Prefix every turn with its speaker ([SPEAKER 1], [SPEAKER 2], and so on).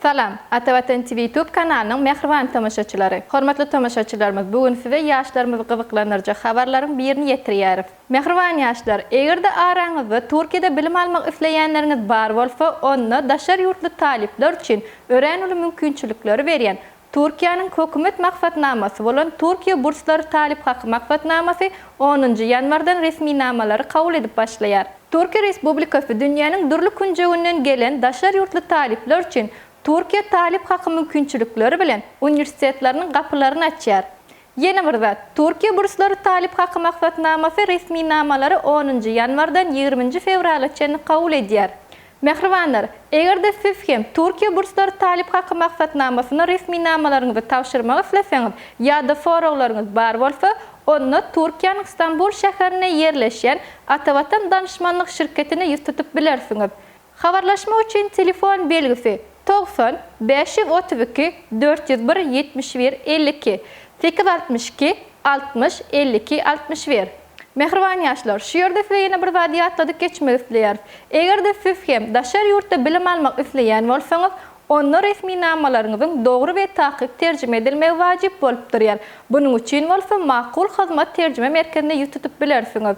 [SPEAKER 1] Salam, Ata Watan TV YouTube kanalynyň mähriban tomaşaçylary! Hormatly tomaşaçylarymyz, bu gün size ýaşlarymyzy gyzyklandyrjak habarlaryň birini ýetirýäris. Mähriban ýaşlar, eger-de araňyzda Türkiýede bilim almak isleýänleriňiz bar bolsa, onda daşary ýurtly talyplar üçin örän uly mümkinçilikleri berýän Türkiýäniň hökümet maksatnamasy bolan Türkiýe burslary talyp haky maksatnamasy onunjy ýanwardan resminamalary kabul edip başlaýar. Türkiýe Respublikasy dünýäniň dürli künjeginden gelen daşary ýurtly talyplar üçin Türkiýe talyp haky mümkinçilikleri bilen uniwersitetleriniň gapylaryny açýar. Ýene bir zat, Türkiýe burslary talyp haky maksatnamasy resminamalary onunjy ýanwardan ýigriminji fewrala çenli kabul edýär. Mähribanlar, eger-de siz hem Türkiýe burslary talyp haky maksatnamasyna resminamalaryňyzy tabşyrmak isleseňiz ýa-da soraglaryňyz bar bolsa, onda Türkiýäniň Stambul şäherinde ýerleşýän Atavatan Danyşmanlyk şirketine ýüz tutup bilersiňiz. Habarlaşmak üçin telefon belgisi, togsan bäş ýüz otuz iki dört ýüz bir ýetmiş bir elli iki, sekiz altmyş iki altmyş elli iki altmyş bir. Mähriban ýaşlar, şu ýerde size ýene bir zady ýatladyp geçmek isleýäris. Eger-de siz hem daşary ýurtda bilim almak isleýän bolsaňyz, onda resminamalaryňyzyň dogry we takyk terjime edilmegi wajyp bolup durýar. Bunuň üçin bolsa Makul Hyzmat terjime merkezine ýüz tutup bilersiňiz.